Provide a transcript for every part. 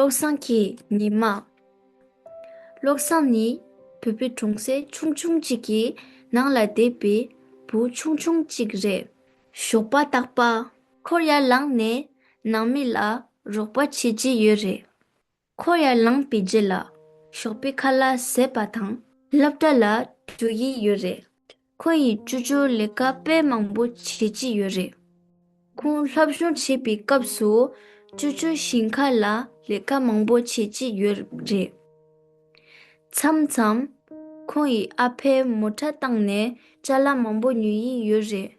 བློ་བཟང་གི་ཉི་མ། བློ་བཟང་ནི་བུ་བུ་གྲོང་སྲས་ཆུང་ཆུང་གཅིག་གི་ནང་ལ་བསྡད་པའི་བུ་ཆུང་ཆུང་གཅིག་རེད། ཞོགས་པ་རྟག་པ། ཁོར་ཡར་ལངས་ནས་ནང་མི་ལ་རོགས་པ་བྱེད་ཀྱི་ཡོད་རེད། འཁོར་ཡར་ལངས་པའི་རྗེས་ལ་ཞོགས་པའི་ཁ་ལ་ཟེར་བ་དང། སློབ་གྲྭ་ལ་འགྲོ་ཡི་ཡོད་རེད། ཁོང་ཡིས་བཅོས་སྒྱུར་ལས་ཀ་དཔེ་མང་པོ་བྱེད་ཀྱི་ཡོད་རེད། ཁོང་སློབ་སྦྱོང་བྱེད་པའི་སྐབས་སུ་བཅོས་སྒྱུར་ཞིང་ཁ་ལ་ལས་ཀ་མང་པོ་བྱེད་ཀྱི་ཡོད་རེད། མཚམས་མཚམས། ཁོང་ཡི་ཨ་ཕས་མོ་ཁྲ་བཏང་ནས་བཅའ་ལ་མང་པོ་ཉོ་ཡི་ཡོད་རེད།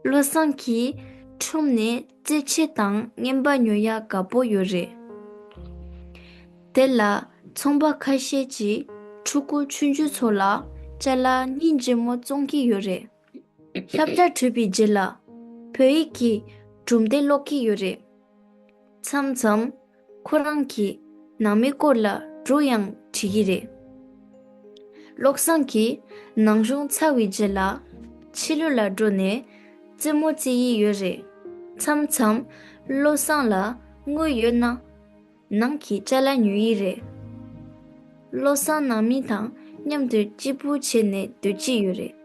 བློ་བཟང་གིས། ཁྲོམ་ནས་རྩེད་ཆས་དང་རྔན་པ་ཉོ་ཡག་དགའ་པོ་ཡོད་རེད། དེ་ལ་ཚོང་པ་ཁ་ཤས་ཀྱིས་ཕྲུ་གུ་ཆུང་ཆུང་ཚོ་ལ་བཅའ་ལ་སྙིང་རྗེ་མོ་བཙོང་གི་ཡོད་རེད། ཁྱབ་བརྡ་གྲུབ་པའི་རྗེས་ལ་བོད་ཡིག་གི་གྲུབ་འབྲས་ཀློག་གི་ཡོད་རེད། མཚམས་མཚམས། ཁོ་རང་གིས་ནང་མི་སྐོར་ལ་གྲོས་ཡང་བྱེད་ཀྱི་རེད། བློ་བཟང་གིས་ནང་གཞུང་ཚར་བའི་རྗེས་ལ་ཕྱི་ལོད་ལ་འགྲོ་ནས་རྩེད་མོ་རྩེ་ཡི་ཡོད་རེད། མཚམས་མཚམས་བློ་བཟང་ལ་དངུལ་ཡོད་ན་ནང་གི་བཅའ་ལ་ཉོ་ཡི་རེད། བློ་བཟང་ནང་མི་དང་མཉམ་དུ་གཅིག་པུ་བྱས་ནས་སྡོད་ཀྱི་ཡོད་རེད།